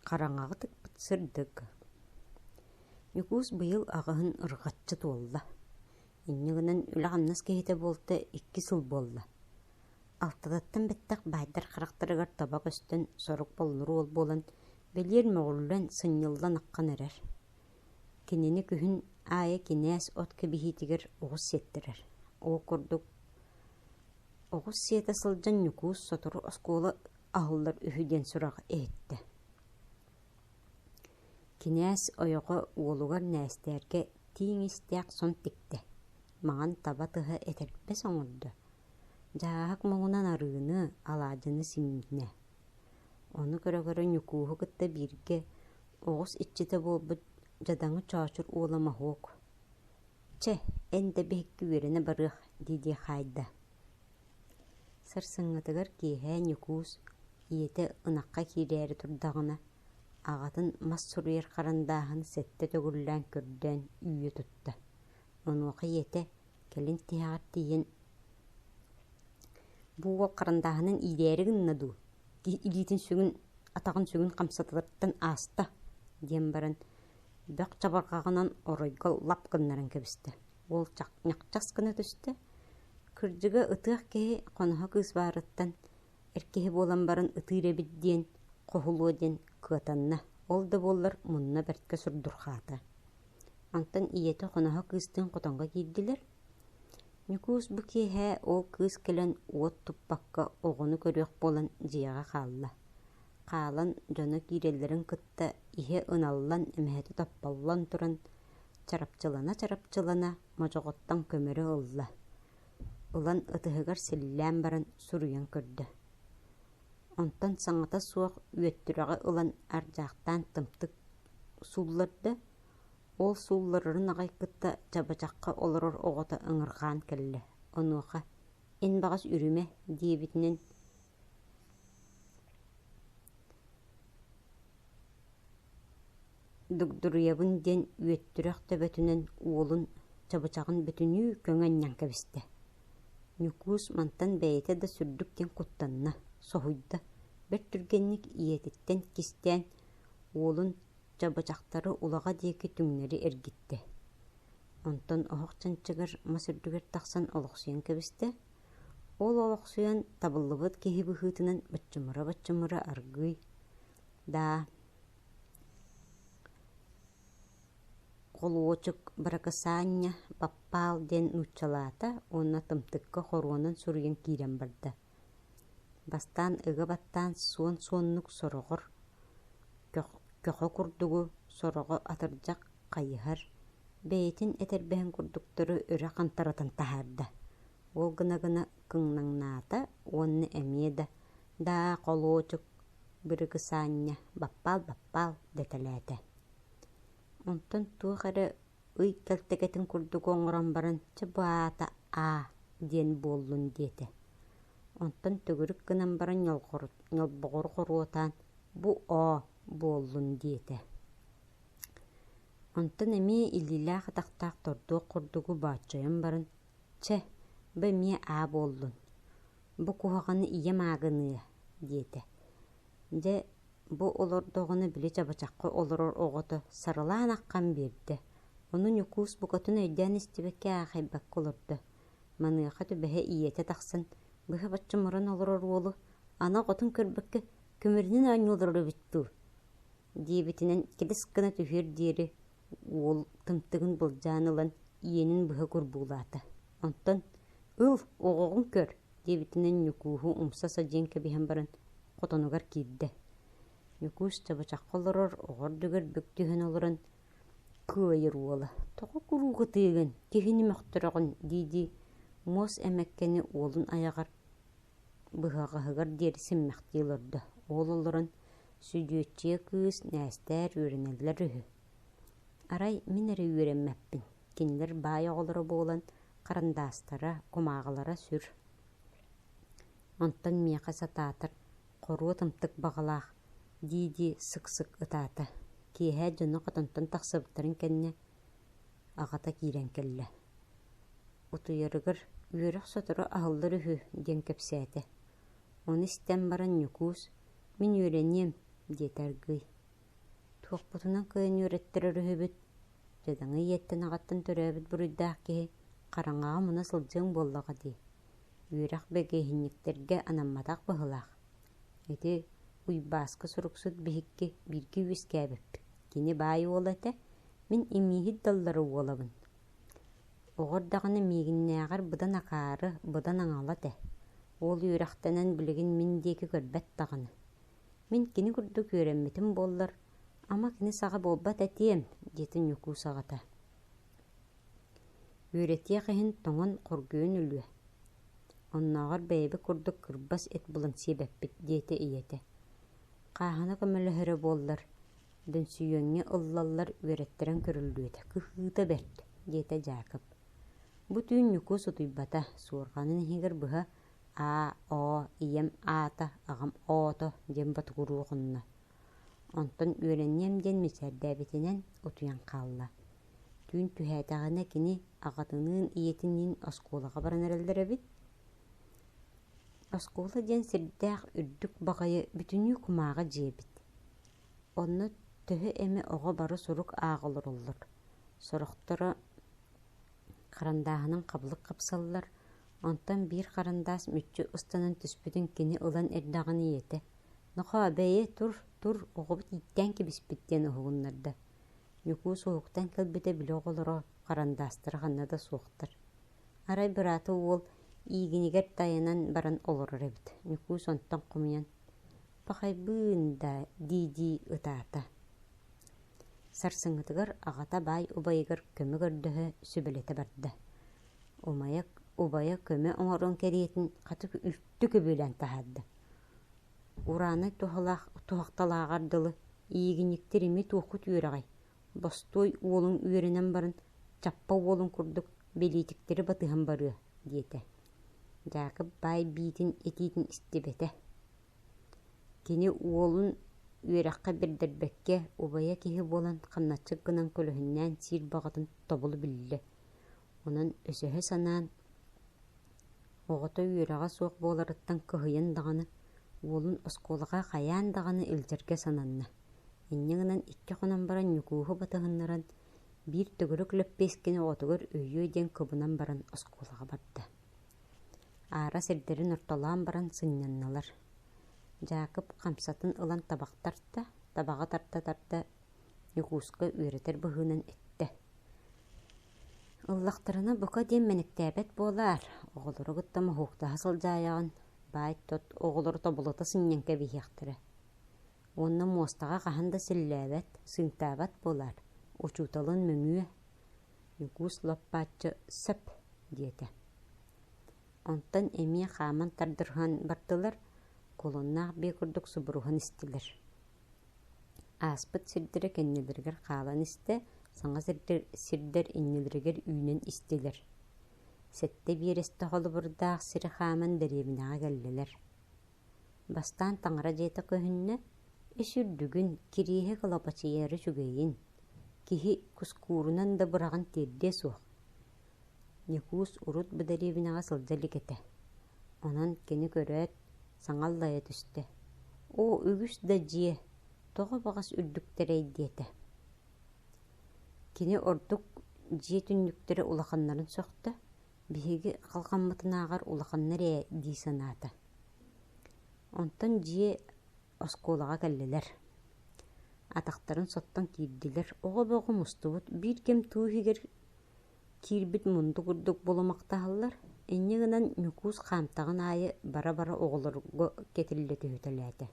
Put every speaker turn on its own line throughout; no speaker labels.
Хараҥаҕытык сырдык. Ньукуус быйыл аҕыһын ырҕаччы туолла. Инньэ гынан үлэ-хамнас киһитэ буолта икки сыл буолла. Алтатыттан бэттэх баайдар харахтарыгар таба көстөн сорук боллуру уол буолан, бэлиэр мөҕүллэн, сынньыллан-аккан эрэр. Кинини күһүн аайы кинээс от кэбиһиитигэр оҕус сиэттэрэр. Ол курдук оҕус сиэтэ сылдьан Ньукуус сотору оскуола аһыллар үһү диэн сурах иһиттэ Кинээс ойоҕо уолугар Нээстээргэ тииҥ истээх сон тиктэ. Маҥан таба тыһа этэрбэс оҥордо. Дьааһык муҥунан арыыны, алаадьыны симнэ. Ону көрө-көрө Ньукууһу кытта бииргэ оҕус иччитэ буолбут дьадаҥы чоочур уола моһуок «Чэ, эн да биһикки үөрэнэ барыах» дии-дии хаайда. Сарсыҥҥытыгар киэһээ Ньукуус ийэтэ ынахха киирээри турдаҕына, аҕатын мас суруйар харандааһын сэттэ төгүллээн көрдөөн үүйэ тутта. Онуоха ийэтэ кэлин тиһэҕэр тиийэн «Бу уол харандааһынын иирээри гынна дуу?» киһи илиитин сүгүн, атаҕын сүгүн хамсатылартан ааста, диэн баран, бөх чабырҕаҕынан оройго лап гыннаран кэбистэ. Уол ньахчас гына түстэ, кырдьыга ытыах киһи хоноһо кыыс баарыттан эр киһи буолан баран ытыыр эбит диэн хоһулуо диэн кыатанна. Ол да буоллар мунна бэрткэ сурдурхаата. Антон ийэтэ хоноһо кыыстыын хотонго киирдилэр, Ньукуус бу киэһэ ол кыыс кэлэн уот туппакка оҕону көрүөх буолан дьиэҕэ хаалла. Хаалан дьоно киирэллэрин кытта иһэ ыналлан эмэһэти топполлон туран чарапчылана-чарапчылана модьоҕоттон көмөрү ылла. Ылан ытыһыгар силлээн баран суруйан көрдө. Онтон саҥата суох үөттүрэҕи ылан ардьаахтаан тымтык суулларда, Ол суулларарын аҕай кытта чабачахха олорор оҕото ыҥырҕаан кэллэ: «Онуоха: эн баҕас үрүмэ» диэбитинэн дугдуруйабын диэн үөттүрэх төбөтүнэн уолун чабычаҕын бүтүнүү көҥө анньан кэбистэ. Ньукуус мантан бэйэтэ да сүрдүк диэн куттанна, соһуйда, бэрт түргэнник ийэтиттэн кистээн, уолун чабычахтары улаҕа диэки түҥнэри эргиттэ. Онтон оһох чанчыгар мас үрдүгэр тахсан олохсуйан кэбистэ. Ол олохсуйан табыллыбыт киһи быһыытынан баччымыра-баччымыра аргыый «даа» холуочук Быракысаанньа Баппаал диэн нууччалаата уонна тымтыкка хоруонан суруйан киирэн барда Бастаан ыга баттаан суон-суоннук сороҕор, көхө курдугу сороҕо атырдьах хайыһар, бэйэтин этэрбэһин курдуктары үрэ хантаратын таһаарда, ол гына-гына кыҥнаҥнаата уонна эмиэ да «даа холуочук, бырыгысаанньа, баппаал-баппаал» дэтэлээтэ. Онтон туох эрэ ый кэлтэгэтин курдук оҥорон баран чэ бу аата аа диэн буоллун диэтэ онтон төгүрүк гынан баран ньолбоҕор хоруотаан бу оо буоллун диэтэ онтон эмиэ илиилээх атахтаах тордуох курдугу бооччойон баран чэ бу эмиэ аа буоллун бу куһаҕаны ийэм аагыныа диэтэ дьэ Бу олордоҕуна били чабачахха олорор оҕото сарылаан аххан биэрдэ, ону Ньукуус букатын өйдөөн истибэккэ аахайбакка олордо. Маныаха түбэһэ ийэтэ тахсан, быһа-бачча муран олорор уолу ана оҕотун көрбөккө көмөрүнэн оонньуу олорор эбит дуу? диэбитинэн кэдис гына түһүөр диэри уол тымтыгын былдьаан ылан ийэнин быһа курбуулаата. Онтон «Ыл, оҕоҕун көр, диэбитинэн Ньукууһу умса садьыйан кэбиһэн баран хотонугар киирдэ. Ньукуус чабычахха олорор оҕо үрдүгэр бүк түһэн олорон «Кыайыр уола, тоҕо куруук ытыыгын, киһини мөхтөрөҕүн?» дии-дии муос эмэккэни уолун айаҕар быһаҕаһыгар диэри симмэхтии олордо. Уол олорон, «Сүдүөччүйэ кыыс Нээстээр үөрэнэллэр үһү» Арай мин эрэ үөрэммэппин, кинилэр баай оҕолоро буолан харандаастара, кумааҕылара сүр. Онтон миэхэ сатаатар «Хоруот ымтык баҕалаах» дии-дии сык-сык ытаата. Киэһэ дьоно хотонтон тахсыбыттарын кэннэ аҕата киирэн кэллэ. Утуйарыгар «Үөрэх сотору аһыллар үһү» диэн кэпсээтэ. Ону истэн баран Ньукуус «Мин үөрэниэм» диэтэ аргыый Туохпутунан кыайан үөрэттэр өрүһүбүт, дьадаҥы ийэттэн-аҕаттан төрөөбүт буруйдаах киһи хараҥаҕа муна сылдьыаҥ буоллаҕа дии, үөрэх бэгэһиинньиктэргэ анамматах быһылаах. Ити Уйбааска суруксут биһикки бииргэ үөскээбиппит, кини баай уола этэ, мин имииһит даллара уолабын. Оҕо эрдэҕинэ миигиннээҕэр быдан акаары, быдан аҥала этэ, ол үөрэхтэнэн билигин мин диэки көрбөт даҕаны. Мин кини курдук үөрэммитим буоллар, ама кини саҕа буолбат этиэм, диэтин Ньукуус аҕата. Үөрэтиэх иһин тоҥон хоргуйан өлүө. Оннооҕор бэйэбит курдук кырбас эт булан сиэбэппит, диэтэ ийэтэ. Хааһына көмөлөһөрө буоллар, дөнсүйүөҥҥэ ыллаллар үөрэттэрэн көрүллүөтэ, кыһыыта бэрт, диэтэ Дьаакып. Бу түүн Ньукуус утуйбата, суорҕанын иһигэр быһа аа-оо, ийэм аата, аҕам оото диэн ботугуруохунна. Онтон үөрэнниэм диэн мичээрдээбитинэн утуйан хаалла. Түүн түһээтэҕинэ кини аҕатыныын ийэтиниин оскуолаҕа баран эрэллэр эбит. Оскуола диэн сирдээх үрдүк баҕайы бүтүннүү кумааҕы дьиэбит. Онно төһө эмэ оҕо бары сурук ааҕа олороллор. Сорохторо харандааһынан хабылык хапсаллар, Онтон биир харандаас мүччү ыстанан түспүтүн кини ылан эрдэҕин ийэтэ: «Нохоо, бэйи, тур, тур, оҕобут ииттээн кэбиспит» диэн уһугуннарда. Ньукуус уһуктан кэлбитэ били оҕолоро харандаастара ханна да суохтар. Арай быраата уол иигинигэр тайанан баран олорор эбит. Ньукуус онтон хомуйан: «Пахайбыын даа» дии-дии ытаата. Сарсыҥҥытыгар аҕата баай убайыгар көмө көрдөһө, сүбэлэтэ барда: убайа көмө оҥорон кэриэтин хата үлтү күбүлээн таһаарда ураанай туһахталааҕар дылы иигиньиктэр эмиэ туоххут үөрэҕэй бостуой уолуҥ үөрэнэн баран чаппа уолун курдук бэлиитиктэри батыһан барыа диэтэ дьаакып баай биитин этиитин истибэтэ кини уолун үөрэххэ бэрдэрбэккэ убайа киһи буолан хамначчыт гынан көлөһүннээн сиир баҕатын тобулу биллэ Онон өсөһө санаан, оҕото үөрэҕэ суох буоларыттан кыһыйан даҕаны, уолун оскуолаҕа хайаан даҕаны илдьэргэ сананна. Инньэ гынан икки хонон баран Ньукууһу батыһыннаран, биир төгүрүк лэппиэскини оҕотугар өйүө диэн кыбынан баран оскуолаҕа барда. Аара сирдэрин ортолоон баран сынньаннылар. Дьаакып хамсатын ылан табах тарта, табаҕы тарта-тарта Ньукууска үөрэтэр быһыынан эттэ: Ыллахтарына бука диэн мэниктээбэт буолаар, оҕолору кытта моһууктаһа сылдьаайаҕын, баай-тот оҕолору тобулута сынньан кэбиһиэхтэрэ. Уонна муостаҕа хаһан да силлээбэт, сыыҥтаабат буолаар, учууталын мөмүө «Югус-лаппаачча сөп» диэтэ. Онтон эмиэ хааман тардырҕаан бардылар, кулуннаах бии курдук субуруһан истилэр Ааспыт сирдэрэ кэннилэригэр хаалан истэ, саҥа сирдэр иннилэригэр үүнэн истилэр. Сэттэ биэрэстэ холобурдаах сири хааман дэриэбинэҕэ кэллилэр. Бастаан таҥара дьиэтэ көһүннэ, «Ис үрдүгүн, Кириэһи кылапачыйары үчүгэйин, киһи кускуурунан да быраҕан тиэрдиэ суох» Ньукуус урут бу дэриэбинэҕэ сылдьа илик этэ, онон кини көрөөт, саҥа аллайа түстэ: «Оо, үгүс да дьиэ, тоҕо баҕас үрдүктэрэй?» диэтэ. Кини ордук дьиэ түннүктэрэ улаханнарын сөхтө, биһиги халҕаммытынааҕар улаханнар ээ дии санаата. Онтон дьиэ оскуолаҕа кэллилэр. Атахтарын соттон киирдилэр. Оҕо бөҕө мустубут. Биир ким туу иһигэр киирбит мунду курдук булумахтаһаллар. Инньэ гынан Ньукуус хаамтаҕын аайы бара-бара оҕолорго кэтиллэ түһүтэлээтэ.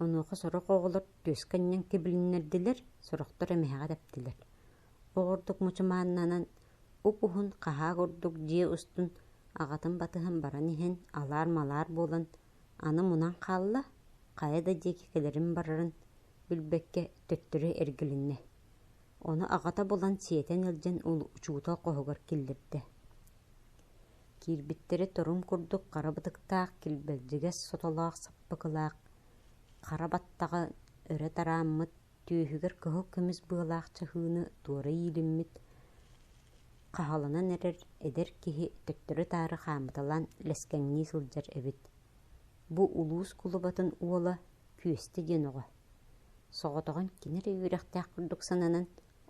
Онуоха сорох оҕолор түөскэ анньан кэбилиннэрдилэр, сорохтор эмэһэҕэ тэптилэр. Оҕордук мучумааннанан уп-уһун хаһаа курдук дьиэ устун аҕатын батыһан баран иһэн алаар-малаар буолан аны мунан хаалла, хайа да диэки кэлэрин барарын билбэккэ төттөрү эргилиннэ. Ону аҕата булан сиэтэн илдьэн учуутал хоһугар киллэрдэ киирбиттэрэ торум курдук хара бытыктаах килбэлдьигэс сотолоох саппыкылаах хара баттаҕа өрө тарааммыт түөһүгэр кыһыл көмүс быалаах чаһыыны туора иилиммит, хаһаланан эрэр эдэр киһи төттөрү-таары хаамыталаан лэскэҥнии сылдьар эбит. Бу улуус кулубатын уола Күөстэ диэн оҕо. Соҕотоҕун кини эрэ үөрэхтээх курдук сананан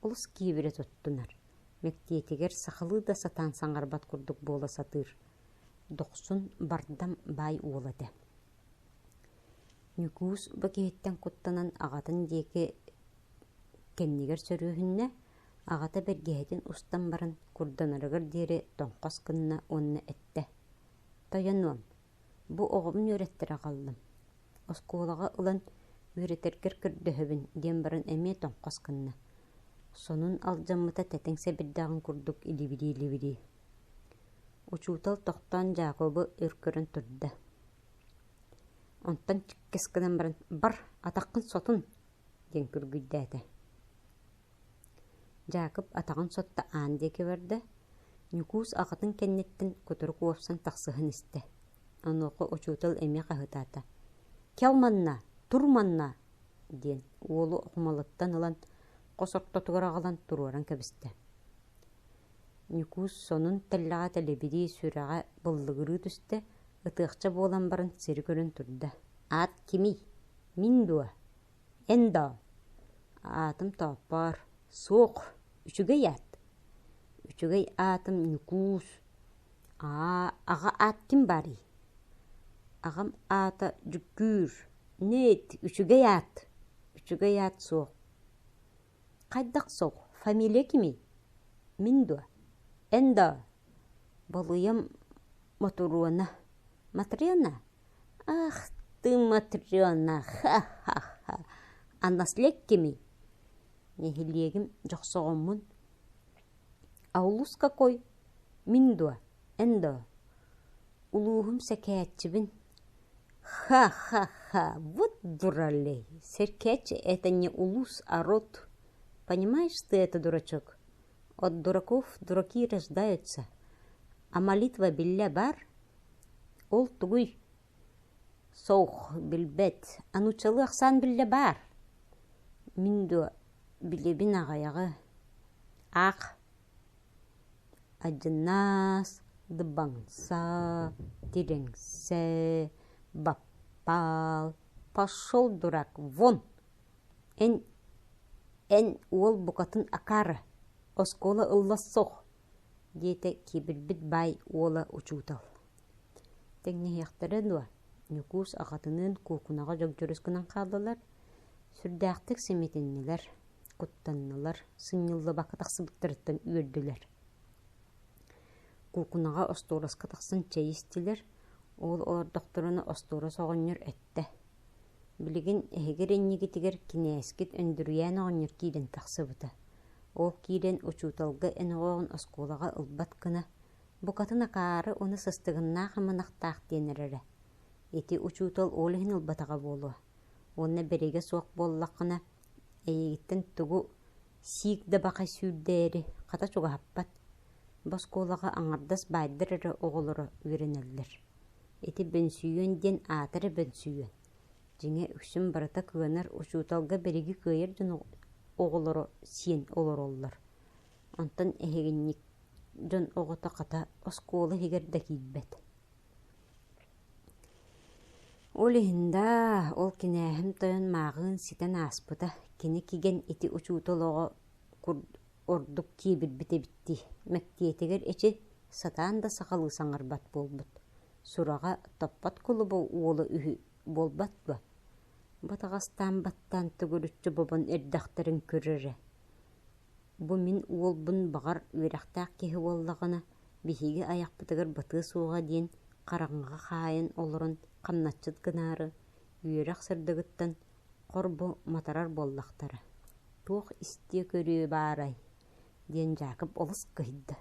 олус киэбирэ туттунар, мэктиэтигэр сахалыы да сатаан саҥарбат курдук буола сатыыр. Дохсун бардам баай уола этэ. Ньукуус бу киһиттэн куттанан аҕатын диэки кэннигэр сөрүөһүннэ, аҕата бэргэһэтин устан баран курданарыгар диэри тоҥхос гынна уонна эттэ: «Тойонуом, бу оҕобун үөрэттэрэ хааллым. Оскуолаҕа ылан үөрэтэргэр көрдөһөбүн» диэн баран эмиэ тоҥхос гынна. Сонун алдьаммыта тэтиҥ сэбирдэҕин курдук илибирии-илибирии Учуутал тохтоон Дьаакыбы өр көрөн турда: «Онтон чиккэс гынан баран, бар, атаххын сотун!» диэн күргүйдээтэ. Дьаакып атаҕын сотто аан диэки барда, Ньукуус аҕатын кэнниттэн кутурук уопсан тахсыһан истэ. Онуоха учуутал эмиэ хаһытаата: «Кэл манна, тур манна!» диэн уолу хумалыттан ылан, хос ортотугар аҕалан туруоран кэбистэ. Ньукуус сонун тэллэҕэ тэлэбирии сүрэҕэ быллыгырыы түстэ, ытыахча буолан баран сири көрөн турда: «Аат кимий? Мин дуо? Эн доо?» «Аатым Тооппоор. Суох. Үчүгэй аат». Үчүгэй аатым Ньукуус. Аа, аҕа аат ким баарый? Аҕам аата Дьүккүүр. Нэт, үчүгэй аат. Үчүгэй аат суох. Хайдах сол, фамилия кимий? Мин дуо? Эн доо? Балыйам Мотуруона. Матрена? Ах, ты Матрена, ха-ха-ха. Аннаслек кимий? Нэһилиэгим Дьохсоҕоммун А улус какой? Мин дуо? Эн доо? Улууһум Сэкээччибин Ха-ха-ха, вот дуралей, Сэркээччи — это не улус, а род. Понимаешь ты это, дурачок? От дураков дураки рождаются. А молитва биллэ бар? Ол тугуй? Солк. Билбэт. Аны чылы ыксаан биллэ баар. Мин дуо билэбин аҕыйаҕы. Аах Адьынаас, Дыбаҥса, Тирэҥсэ, Баппаал, Пошел дурак, вон! Эн эн уол букатын акаары, оскуола ылла суох, диэтэ кибирбит баай уола учуутал Тэҥнэһиэхтэрэ дуо, Ньукуус аҕатыныын куукунаҕа дьогдьорус гынан хааллылар, сүрдээхтик симитиннилэр, куттаннылар, сынньыллыбакка тахсыбыттарыттан үөрдүлэр. Куукунаҕа остуораска тахсан чэй истилэр, уол олордохторуна остуорас оҕонньор эттэ, «Билигин эһигэр иннигитигэр кинээскит Өндүрүйээн оҕонньор киирэн тахсыбыта. Ол киирэн учууталга эн оҕоҕун оскуолаҕа ылбат гына, Букатын акаары уну сыстыгыннаах ымынахтаах диэн эрэрэ. Ити учуутал ол иһин ылбатаҕа буолуо. Уонна бэригэ суох буоллаххына, эйигиттэн тугу сиик да бакай сүүрдээри хата чугаһаппат. Бу оскуолаҕа аҥардас баайдар эрэ оҕолоро үөрэнэллэр. Ити бөнсүйүөн диэн аата эрэ бөнсүйүөн. Дьиҥэ үксүн барыта кыанар учууталга бириги кыайар дьон оҕолоро сиэн олороллор. Онтон эһигинник дьон оҕото хата оскуола иһигэр да киирбэт. Ол иһин даа, ол кинээһим тойон мааҕыын ситэн ааспыта. Кини кигэн ити учуутал оҕо ордук киэбирбит эбит дии. Мэктиэтигэр эчи сатаан да сахалыы саҥарбат буолбут. Сураҕа топпот кулуба уола үһү буолбат дуо? Батаҕастаан баттаан төгүрүччү бобон эрдэхтэрин көрөрө. Бу мин уолбун баҕар үөрэхтээх киһи буоллаҕына, биһиги айахпытыгар батыа суоҕа диэн хараҥаҕа хаайан олорон хамначчыт гынаары, үөрэх сырдыгыттан хор бу матарар буоллахтара, туох истиэ-көрүө баарай, диэн Дьаакып олус кыһыйда.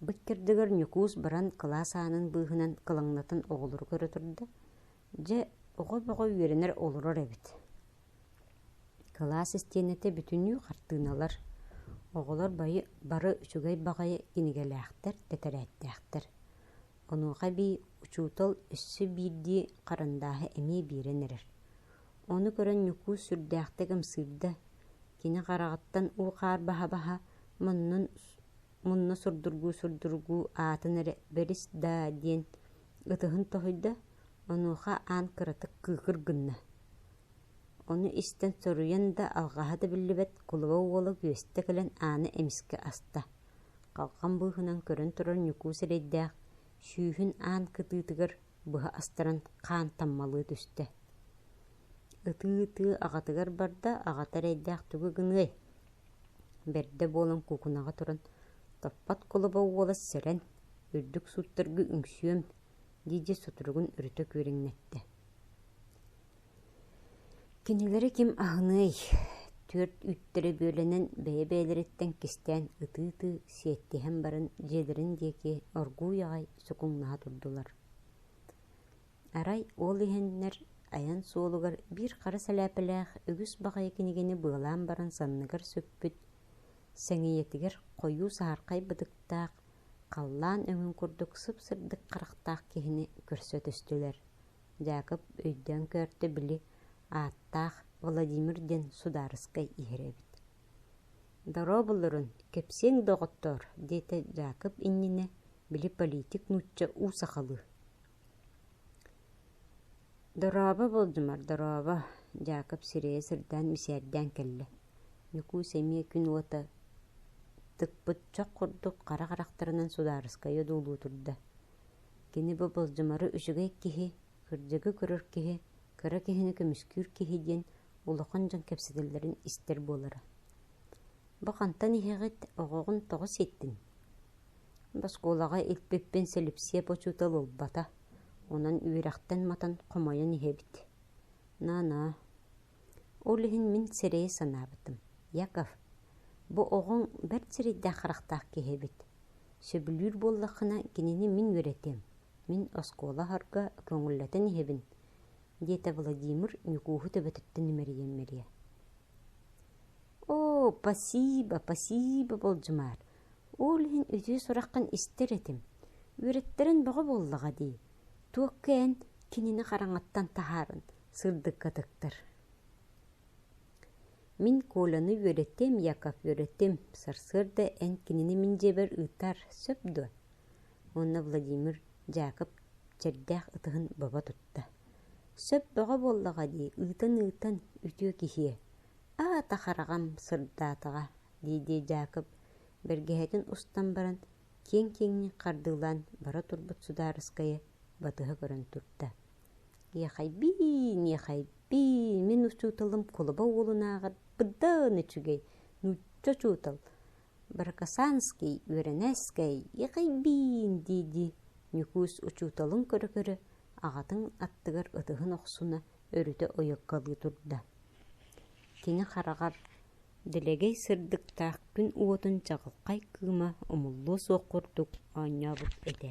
Бу кэрдигэр Ньукуус баран кылаас аанын быыһынан кылаҥнатан оҕолору көрө турда, Дьэ, оҕо бөҕө үөрэнэр олорор эбит. Кылаас истиэнэтэ бүтүннүү хартыыналар, оҕолор бары бары үчүгэй баҕайы кинигэлээхтэр, тэтэрээттээхтэр. Онуоха эбии учуутал өссө биирдии харандааһы эмиэ биэрэн эрэр. Ону көрөн Ньукуус сүрдээхтик ымсыырда. Кини хараҕыттан уу-хаар баһа-баһа муннун мунна сурдургуу-сурдургуу аатын эрэ «бэрис даа» диэн Ытыһын тоһуйда, онуоха аан кыратык кыыкыр гынна, ону истэн соруйан да алҕаһа да биллибэт кулуба уола күөстэ кэлэн ааны эмискэ аста, халҕан быыһынан көрөн турар ньукуу сирэйдээх, сүүһүн аан кытыытыгар быһа астаран хаан таммалыы түстэ. Ытыы-ытыы аҕатыгар барда, аҕата эрэйдээх тугу гыныай, бэрдэ буолан куукунаҕа туран топпот кулуба уола сэрэн үрдүк суоттарга үҥсүөм, дии-дии соторугун өрүтэ күөрэҥнэттэ. Кинилэри ким аһыныай, түөрт үүттэрэ бүөлэнэн бэйэ-бэйэлэриттэн кистээн ытыы-ытыы сиэттиһэн баран дьиэлэрин диэки оргууй аҕай сукуҥнаһа турдулар. Арай уол иһэннэр айан суолугар биир хара сэлээпэлээх үгүс баҕайы кинигэни быалаан баран санныгар сүкпүт, сэҥийэтигэр хойуу саһархай бытыктаах Халлаан өҥүн курдук сып-сырдык харахтаах киһини көрсө түстүлэр. Дьаакып өйдөөн көрдө били ааттаах Владимир диэн судаарыскай иһэр эбит «Дорообуллурун, кэпсиэҥ, доҕоттоор» диэтэ Дьаакып иннинэ били политик нуучча уу сахалыы Дорообо, Болдьумар, дорообо, Дьаакып сирэйэ сырдаан мичээрдээн кэллэ. Ньукуус эмиэ күн уота тыкпыт чох курдук хара харахтарынан судаарыскайа одуулуу турда. Кини бу Болдьумары үчүгэй киһи, кырдьыгы көрөр киһи, кыра киһини көмүскүүр киһи диэн улахан дьон кэпсэтэллэрин истэр буолара Бу хантан иһэҕит, оҕоҕун тоҕо ситтиҥ? Боскуолаҕа илпиппин Сэлипсиэп учуутал ылбата, онон үөрэхтэн матан хомойон иһэбит. Наанаа, ол иһин мин сирэйи санаабытым. Яков, бу оҕоҥ бэрт сирэйдээх харахтаах киһи эбит. Сөбүлүүр буоллаххына, кинини мин үөрэтиэм. Мин оскуола оһорго көҥүллэтэн иһэбин, диэтэ Владимир Ньукууһу төбөтүттэн имэрийэн мэрийэ. оо пасиба пасиба болдьумаар ол иһин үтүө сураххын истэр этим үөрэттэрин бөҕө буоллаҕа дии туохха эн кинини хараҥаттан таһааран сырдыкка тыктар мин коляны үөрэттим яков үөрэттим сарсыарда эн кинини мин дьиэбэр ыытар сөп дуо уонна Владимир Дьаакып чэрдээх ытыһын бобо тутта: «Сөп бөҕө буоллаҕа дии, ыытан-ыытан, үтүө киһиэ, аата хараҕым сырдаатаҕа» дии-дии Дьаакып бэргэһэтин устан баран, киэҥ-киэҥник хардыылаан бара турбут судаарыскайа батыһа көрөн турда: «Иэхэйбии, миэхэйбии, мин учууталым кулуба уолунааҕар бырдаан үчүгэй, нуучча учуутал, Барыкасанский Үөрэнээскэй Иэкэйбиин дии-дии Ньукуус учууталын көрө-көрө аҕатын аттыгар ытыһын охсуна өрүтэ ойуккалыы турда Кини хараҕар дэлэгэй сырдыктаах күн уотун чаҕылхай кыыма умуллуо суох курдук оонньообут этэ